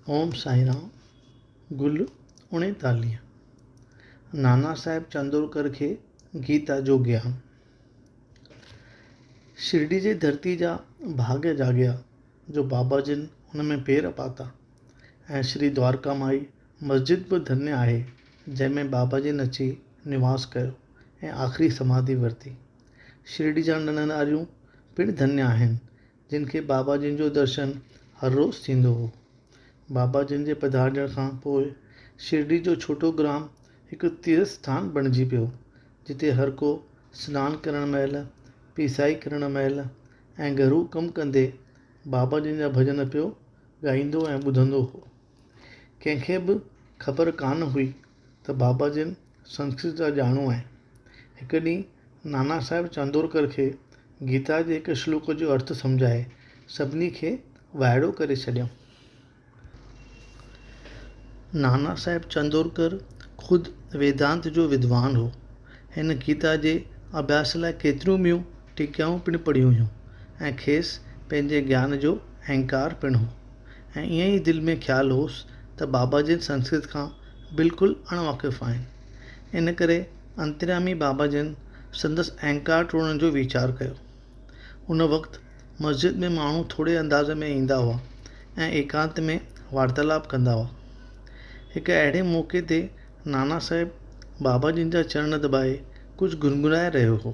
اوم سائين رام گل اڻيتاليهه نانا صاحب چندورڪر کي گيتا جو گيان شرڊي جي ڌرتي جا ڀاڳ جاڳيا جو بابا جن ان ۾ پير پاتا ۽ شري دوارڪا مائي مسجد به ڌنيا آهي جنهن ۾ بابا جن اچي نواس ڪيو ۽ آخري سماڌي ورتي شرڊي جا ننڍ ناريون پڻ ڌنيا آهن جن کي بابا جن جو درشن هر روز ٿيندو هو. بابا جن جي پڌارجڻ کان پوء شرڊي جو ڇوٽو گرام هڪ تيرٿ اسٿان بڻجي پيو، جتي هر ڪو سنان ڪرڻ مهل، پيسائي ڪرڻ مهل ۽ گهرو ڪم ڪندي بابا جن جا ڀڄن پيو ڳائيندو ۽ ٻڌندو هو. ڪنهن کي به خبر ڪانه هئي. ته بابا جن سنسڪرت جا ڄاڻو آهن. هڪ ڏينهن نانا صاحب چاندورڪر کي گيتا جي هڪ شلوڪ جو ارٿ سمجهائي سڀني کي وائڙو ڪري ڇڏيائون. نانا صاحب چاندورڪر خود ويدانت جو ودوان هو. هن گيتا جي اڀياس لاء ڪيتريون ٻيون ٽيڪائون پڻ پڙهيون هيون ۽ کيس پنهنجي گيان جو اهنڪار پڻ هو ۽ ائين ئي دل ۾ خيال هوس ته بابا جن سنسڪرت کان بلڪل اڻ واقف آهن. ان ڪري انتريامي بابا جن سندس اهنڪار ٽوڙڻ جو ويچار ڪيو. ان وقت مسجد ۾ ماڻهو ٿوري انداز ۾ ايندا هئا ۽ ايڪانت ۾ وارتالاپ ڪندا هئا. هڪ اهڙي موقعي تي نانا صاحب بابا جن جا چرڻ دٻائي ڪجهه گنگنائي رهيو هو.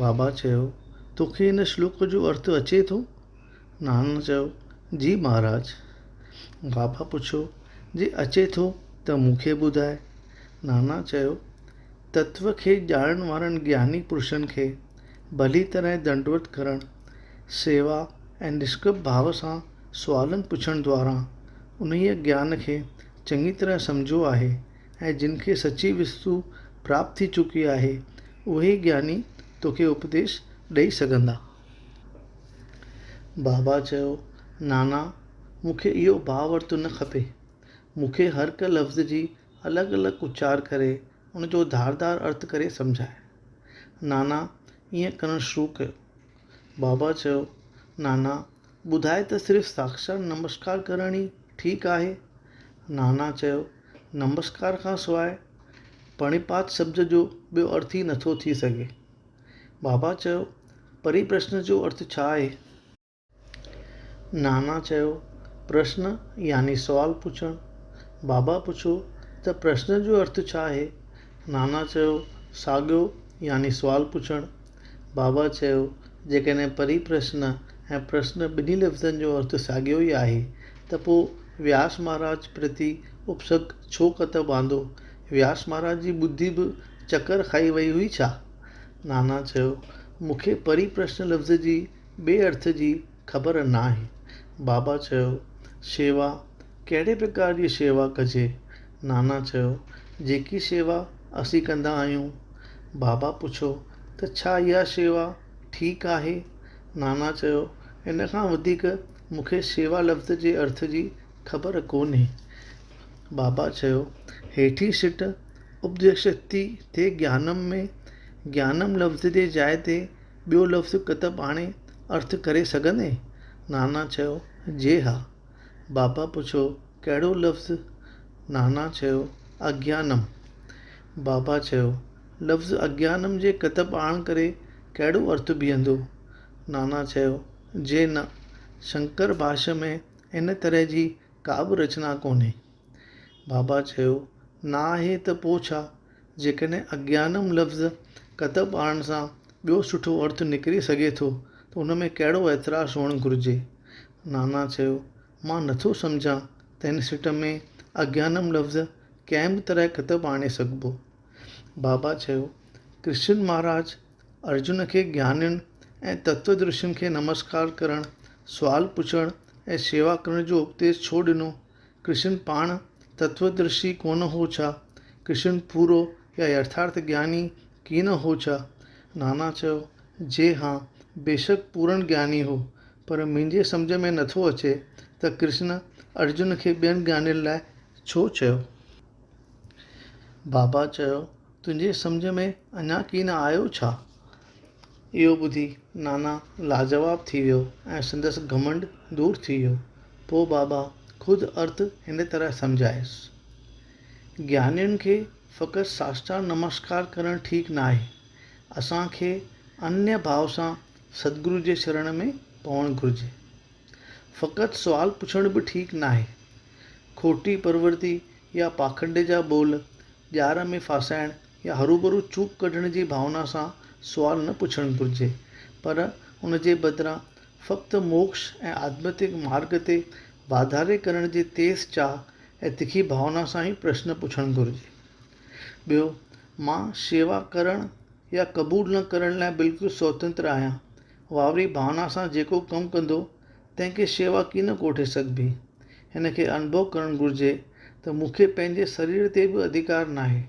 بابا چيو، تو کي هن شلوڪ جو ارٿ اچي ٿو؟ نانا چيو، جي مهاراج. بابا پڇيو، جي اچي ٿو ته مون کي ٻڌاء. نانا چيو، تتوه کي ڄاڻڻ وارن گياني پرشن کي ڀلي طرح دنڊوت ڪرڻ، سيوا ۽ نشڪپ ڀاو سان سوالن پڇڻ دواران انهيء گيان کي چڱي طرح سمجهيو آهي. ۽ جن کي سچي وستو پراپت ٿي چڪي آهي، اهي ئي گياني توکي اپديش ڏئي سگهندا. بابا چيو، نانا، مون کي اهو ڀاء ورتو نه کپي. مون کي هرهڪ لفظ جي الڳ الڳ اچار ڪري، ان جو ڌار ڌار ارٿ ڪري سمجهاء. نانا ائين ڪرڻ شروع ڪيو. بابا چيو، نانا، ٻڌائي ته صرف ساڪشات نمسڪار ڪرڻ ئي ٺيڪ آهي؟ نانا چيو، نمسڪار کان سواء پرڻيپات شبد جو ٻيو ارٿ ئي نٿو ٿي سگهي. بابا چيو، پريپرشن جو ارٿ ڇا آهي؟ نانا چيو، پرشن يعني سوال پڇڻ. بابا پڇيو ته پرشن جو ارٿ ڇا آهي؟ نانا چيو، ساڳيو يعني سوال پڇڻ. بابا چيو، جيڪڏهن پري پرشن ۽ پرشن ٻنهي لفظن جو ارٿ ساڳيو ئي آهي ته پوء وياس مهاراج پرتي اپسرگ ڇو ڪتب آندو؟ وياس مهاراج جي ٻڌي به چڪر کائي وئي هئي ڇا؟ نانا چيو، مون کي پري پرشن لفظ جي ٻئي ارٿ جي خبر ناهي. بابا چيو، شيوا ڪهڙي پرڪار جي شيوا ڪجي؟ نانا چيو، جيڪي شيوا اسين ڪندا آهيون. بابا پڇيو ته ڇا اها شيوا ٺيڪ آهي؟ نانا چيو، ان کان وڌيڪ مون کي شيوا لفظ جي ارٿ جي خبر ڪونهي. بابا چيو، هيٺين سٽ اپديشڪتي ٿي گيانم ۾ گيانم لفظ جي جاء تي ٻيو لفظ ڪتب آڻي ارٿ ڪري سگهندين؟ نانا چيو، جي ها. بابا پڇيو، ڪهڙو لفظ؟ نانا چيو، اگيانم. بابا چيو، لفظ اگيانم جي ڪتب آڻ ڪري ڪهڙو ارٿ بيهندو؟ نانا چيو، جي نه، شنڪر ڀاشيه ۾ ان طرح جي ڪابه رچنا ڪونهي. بابا چيو، نه آهي ته پوء ڇا؟ جيڪڏهن اگيانم لفظ ڪتب آڻڻ سان ٻيو سٺو ارٿ نڪري سگهي ٿو ته ان ۾ ڪهڙو اعتراض هئڻ گهرجي؟ نانا چيو، مان نه ٿو سمجهان ته هن سٽ ۾ اگيانم لفظ ڪنهن به طرح ڪتب آڻي سگهبو. بابا چيو، ڪرشن مهاراج ارجن کي گيانين ۽ تتويدرشين کي نمسڪار ڪرڻ، سوال پڇڻ ۽ شيوا ڪرڻ جو اپديش ڇو ڏنو؟ ڪرشن پاڻ تتووڌرشي ڪونه هو ڇا؟ ڪرشن پورو يا يٿارٿ گياني ڪي نه هو ڇا؟ نانا چيو، جي ها، بيشڪ پورن گياني هو، پر منهنجي سمجهه ۾ نٿو اچي ته ڪرشن ارجن کي ٻين گيانين لاء ڇو چيو؟ بابا چيو، تنهنجي سمجهه ۾ اڃا ڪي نه آيو ڇا؟ اهو ٻڌي نانا لاجواب ٿي ويو ۽ سندس گهمنڊ دور ٿي ويو. پوء بابا خود ارٿ هن طرح سمجهايس. گيانين کي فقط ساشٽانگ نمسڪار ڪرڻ ٺيڪ ناهي. اسان کي انيه ڀاو سان ستگرو جي شرڻ ۾ پوڻ گهرجي. فقط سوال پڇڻ به ٺيڪ ناهي. کوٽي پرورتي يا پاکنڊ جا ٻول ڄار ۾ ڦاسائڻ يا هروڀرو چوب ڪڍڻ جي ڀاونا سان سوال نه پڇڻ گهرجي، پر ان جي بدران فقط موڪش ۽ آڌمتڪ مارڳ تي واڌاري ڪرڻ جي تيز چاهه ۽ تکي ڀاونا سان ئي پرشن پڇڻ گهرجي. ٻيو، مان شيوا ڪرڻ يا قبول نه ڪرڻ لاء بلڪل سوتنتر آهيان واري ڀاونا سان جيڪو ڪم ڪندو، تنهن کي شيوا ڪين ڪوٺي سگهبي. هن کي انڀو ڪرڻ گهرجي ته مون کي پنهنجي سرير تي به اڌيڪار ناهي.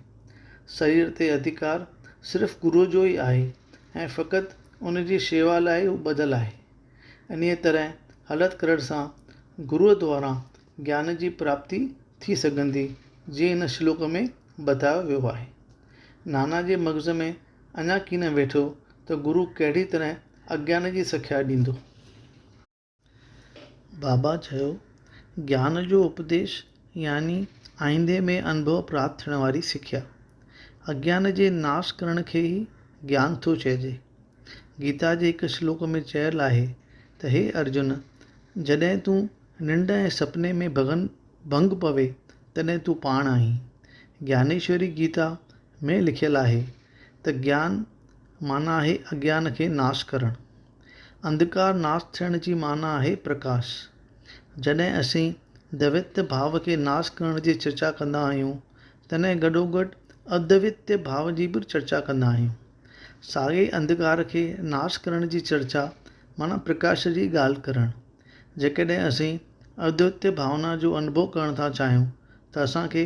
سرير تي اڌيڪار صرف گروء جو ئي آهي ۽ فقط ان جي شيوا لاء هو ٻڌل آهي. انهيء طرح هلت ڪرڻ سان گروء دواران گيان جي پراپتي ٿي سگهندي، جيئن هن شلوڪ ۾ بتايو ويو آهي. نانا جي مغز ۾ اڃا ڪين ويٺو ته گرو ڪهڙي طرح اگيان جي سکيا ڏيندو. بابا چيو، گيان جو اپديش يعني آئيندي ۾ انڀو پراپت ٿيڻ واري سکيا. اگيان جي ناس ڪرڻ کي ئي گيان ٿو چئجي. گيتا جي هڪ شلوڪ ۾ چيل آهي ته هي ارجن! جڏهن تون ننڊ ۽ سپني ۾ ڀنگ پوي تڏهن تون پاڻ آهين. گيانيشوري گيتا ۾ لکيل آهي ته گيان معنيٰ آهي اگيان کي ناس ڪرڻ. انڌڪار ناس ٿيڻ جي معنيٰ آهي پرڪاش. جڏهن اسين دويتيه ڀاو کي ناس ڪرڻ جي چرچا ڪندا آهيون، تڏهن گڏوگڏ ادويتيه ڀاو جي به چرچا ڪندا آهيون. ساڳئي انڌڪار کي ناس ڪرڻ جي چرچا معنيٰ پرڪاش جي ڳالهه ڪرڻ. جيڪڏهن اسين ادويتيه ڀاونا جو انڀو ڪرڻ ٿا چاهيون ته اسان کي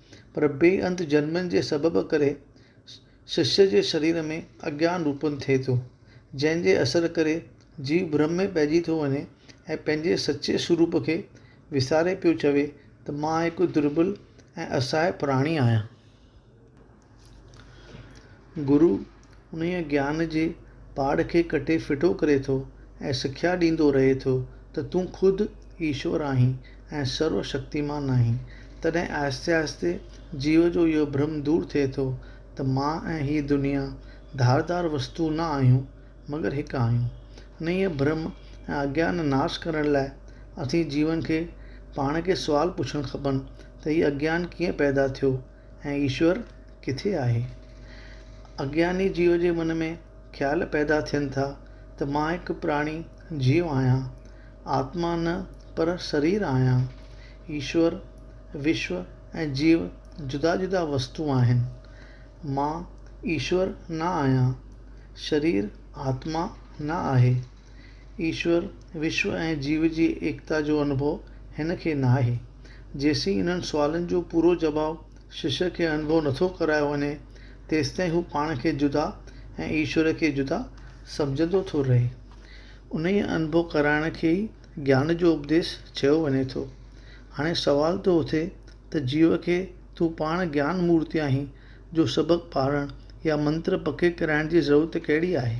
پر بي انت جنمن جي سبب ڪري ششيء جي شرير ۾ اگيان روپن ٿئي ٿو، جنهن جي اثر ڪري جيو برھم ۾ پئجي ٿو وڃي ۽ پنهنجي سچي سوروپ کي وساري پيو چوي ته مان هڪ دربل ۽ اسهائي پراڻي آهيان. گرو انهيء گيان جي پاڙ کي ڪٽي ڦٽو ڪري ٿو ۽ سکيا ڏيندو رهي ٿو ته تون خود ايشور آهين ۽ سرو شڪتيمان آهين. تڏهن آهستي آهستي جيو جو اهو ڀرم دور ٿئي ٿو ته مان ۽ هي دنيا ڌار ڌار وستون نه آهيون، مگر هڪ آهيون. انهيء ڀرم ۽ اگيان ناس ڪرڻ لاء اسين جيون کي پاڻ کي سوال پڇڻ کپن ته هي اگيان ڪيئن پيدا ٿيو؟ ۽ ايشور ڪٿي آهي؟ اگياني جيو جي من ۾ خيال پيدا ٿين ٿا ته مان هڪ پراڻي جيو آهيان، آتما نه پر سرير آهيان. ايشور، وشو ۽ جيو جدا جدا وستون آهن. مان ايشور نه آهيان. شرير آتما نه آهي. ايشور، وشو ۽ جيو جي ايڪتا جو انڀو هن کي ناهي. جيسين انهن سوالن جو پورو جواب ششيء کي انڀو نٿو ڪرايو وڃي، تيستائين هو پاڻ کي جدا ۽ ايشور کي جدا سمجهندو ٿو رهي. انهيء انڀو ڪرائڻ کي ئي گيان جو اپديس چيو وڃي ٿو. هاڻي سوال ٿو اٿي ته جيو کي تون پاڻ گيان مورتي آهين جو سبق پاڙهڻ يا منتر پڪي ڪرائڻ جي ضرورت ڪهڙي آهي؟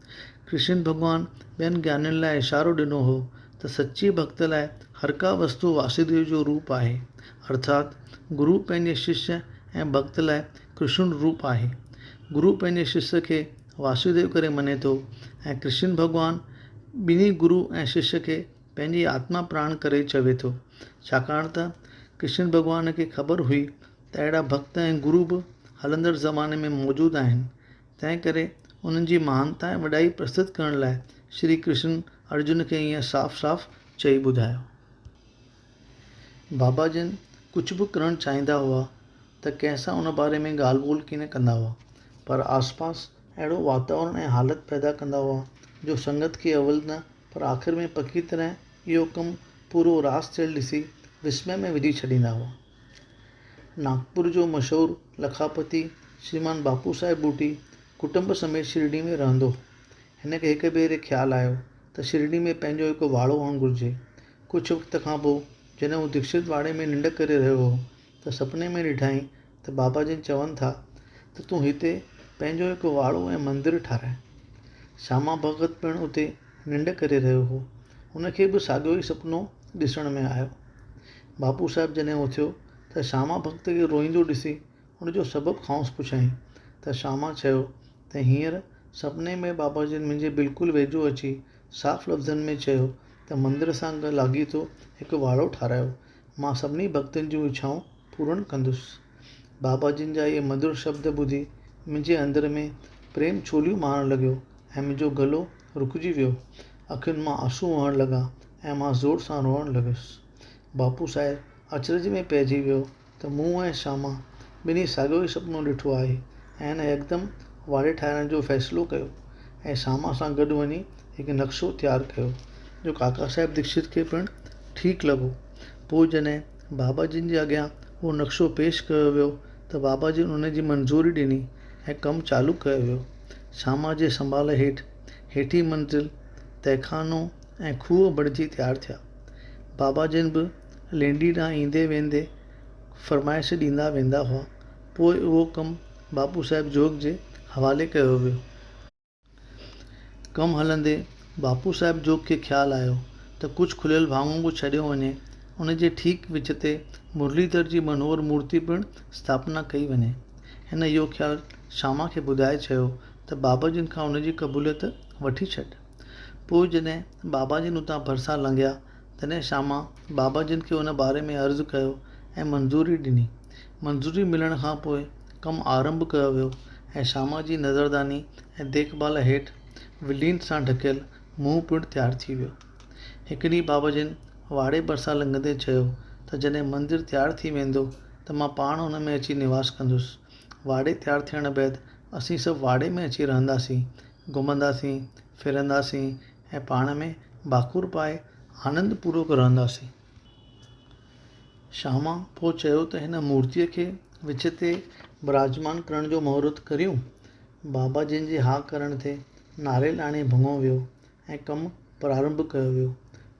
ڪرشن ڀڳوان ٻين گيانين لاء اشارو ڏنو هو ته سچي ڀڳت لاء هرڪا وستو واسديو جو روپ آهي ارٿات گرو پنهنجي ششيه ۽ ڀڳت لاء ڪرشن روپ آهي. گرو پنهنجي ششيه کي واسديو ڪري مڃي ٿو ۽ ڪرشن ڀڳوان ٻنهي گرو ۽ ششيه کي پنهنجي آتما پراڻ ڪري چوي ٿو ڇاڪاڻ ته ڪرشن ڀڳوان کي خبر هئي ته اهڙا ڀڳت ۽ گرو به هلندڙ زماني ۾ موجود آهن تنهن ڪري انهن جي مهانتا ۽ وڏائي پرستت ڪرڻ لاء شري ڪرشن ارجن کي ائين صاف صاف چئي ٻڌايو. بابا جن ڪجهه به ڪرڻ چاهيندا هئا ته ڪنهن سان ان باري ۾ ڳالهه ٻولهه ڪين ڪندا هئا پر آسپاس اهڙو واتاورڻ ۽ حالت پيدا ڪندا هئا جو سنگت کي اول نه پر آخر ۾ پڪي طرح اهو ڪم پورو راس ٿيل ڏسي وسمئي ۾ وجهي ڇڏيندا هئا. ناگپور جو مشهور لکاپتي شريمان باپو صاحب ٻوٽي ڪٽنب سميت شرڊي ۾ رهندو هو. هن کي هڪ ڀيري خيال آيو ته شرڊي ۾ پنهنجو هڪ واڙو هئڻ گهرجي. ڪجهه وقت کان پوء جڏهن هو ديڪشت واڙي ۾ ننڊ ڪري رهيو هو ته سپني ۾ ڏٺائين ته بابا جن چون ٿا ته تون هتي پنهنجو هڪ واڙو ۽ مندر ٺاراء. شاما ڀڳت پڻ اتي ننڊ ڪري رهيو هو. ان کي به ساڳيو ئي سپنو ڏسڻ ۾ آيو. ڀاپو صاحب جڏهن اٿيو ته شاما ڀڳت کي روئيندو ڏسي ان جو سبب کانئس پڇيائين ته شاما چيو ته هينئر سپني ۾ بابا جن منهنجي بلڪل ويجهو اچي صاف لفظن ۾ چيو ته مندر سان لاڳيتو هڪ واڙو ٺارايو مان سڀني ڀڳتن جون اڇائون پورڻ ڪندس. بابا جن جا اهي مڌر شبد ٻڌي منهنجي اندر ۾ پريم ڇوليون مارڻ لڳيو ۽ منهنجو گلو رڪجي ويو. اکين مان آنسو وهڻ لڳا ۽ مان زور سان روئڻ لڳس. باپو سائر اچرج ۾ پئجي ويو ته مون ۽ شاما ٻنهي ساڳيو ئي سپنو ڏٺو آهي ۽ هن يڪدم واڙي ٺاهرائڻ جو فيصلو ڪيو ۽ شاما سان گڏ وڃي هڪ نقشو تيار ڪيو جو ڪاڪا صاحب ديڪشت کي پڻ ٺيڪ لڳو. پوء جڏهن بابا جن جي اڳيان اهو نقشو پيش ڪيو ويو ته بابا جن ان جي منظوري ڏني ۽ ڪم چالو ڪيو ويو. شاما جي سنڀال هيٺ هيٺين منزل، تهخانو ۽ کوهه بڻجي تيار ٿيا. بابا جن به لينڊي ڏانهن ايندي ويندي فرمائش ڏيندا ويندا هئا. پوء اهو ڪم باپو صاحب جوڳ جي حوالي ڪيو ويو. ڪم هلندي باپو صاحب جوڳ کي خيال آيو ته ڪجهه کليل ڀاڱو به ڇڏيو وڃي. ان جي ٺيڪ وچ تي مرليڌر جي منوهر مورتي پڻ اسٿاپنا ڪئي وڃي. هن اهو خيال شاما کي ٻڌائي چيو ته بابا جن کان ان جي قبوليت وٺي ڇڏ. پوء جڏهن بابا جن اتان ڀرسان لنگهيا، تڏهن شاما بابا جن کي ان باري ۾ عرض ڪيو ۽ منظوري ڏني. منظوري ملڻ کان پوء ڪم آرنڀ ڪيو ويو ۽ شاما جي نظرداني ۽ ديک ڀال هيٺ ولينٽ سان ڍڪيل منهن پڻ تيار ٿي ويو. هڪ ڏينهن بابا جن واڙي ڀرسان لنگهندي چيو ته جڏهن مندر تيار ٿي ويندو ته مان پاڻ ان ۾ اچي نواس ڪندس. واڙي تيار ٿيڻ بعد اسين سڀ واڙي ۾ اچي رهنداسين ۽ گهمنداسين، ڦرنداسين ۽ پاڻ ۾ ڀاڪر پائي آنند پورو ڪرنداسين. شاما پوء چيو ته هن مورتيء کي وچ تي براجمان ڪرڻ جو مهورت ڪريون. بابا جن جي ها ڪرڻ تي ناريل آڻي ڀڱو ويو ۽ ڪم پرارنڀ ڪيو ويو.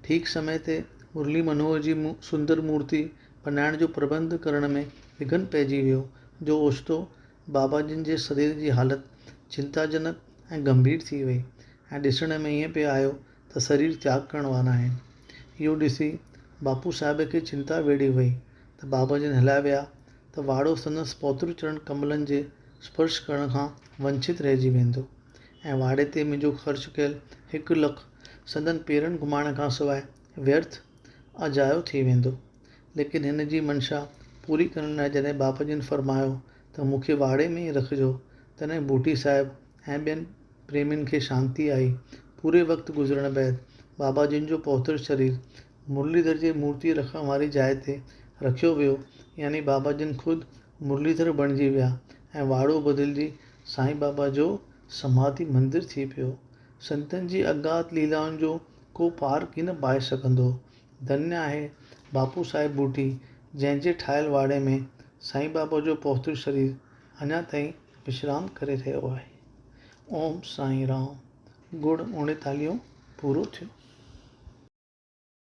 ٺيڪ سمي تي مرلي منوهر جي سندر مورتي بنائڻ جو پرٻنڌ ڪرڻ ۾ وگهن پئجي ويو جو اوچتو بابا جن جي سرير جي حالت چنتاجنڪ ۽ گنڀير ٿي وئي ۽ ڏسڻ ۾ ائين پئي آيو ته سرير تياڳ ڪرڻ وارا آهن. اهو ڏسي باپو صاحب کي چنتا ويڙهي وئي ته بابا جن هليا ويا ته واڙو سندس پوتر چرڻ ڪملن جي اسپرش ڪرڻ کان ونڇت رهجي ويندو ۽ واڙي تي منهنجو خرچ ڪيل هڪ لک سندن پيرن گهمائڻ کان سواء ويرٿ اجايو ٿي ويندو. ليڪن هن جي منشا پوري ڪرڻ لاء جڏهن ٻاپ جن فرمايو ته مون کي واڙي ۾ ئي رکجو، تڏهن بوٽي صاحب ۽ ٻين پريمين کي شانتي آئي. پوري وقت گذرڻ بعد بابا جن جو پهتل شرير مرليڌر جي مورتيء رکڻ واري جاء تي رکيو ويو، يعني بابا جن خود مرليڌر بڻجي ويا ۽ واڙو بدلجي سائين بابا جو سماڌي مندر ٿي پيو. سنتن جي اگات ليلائن جو ڪو پار ڪين پائي سگهندو. ڌنيا آهي باپو صاحب ٻوٽي جنهن جي ٺاهيل واڙي ۾ سائين بابا جو پهتل شرير اڃا تائين وشرام ڪري رهيو آهي اوم سائين رام گڙ اڻيتاليهون پورو ٿيو.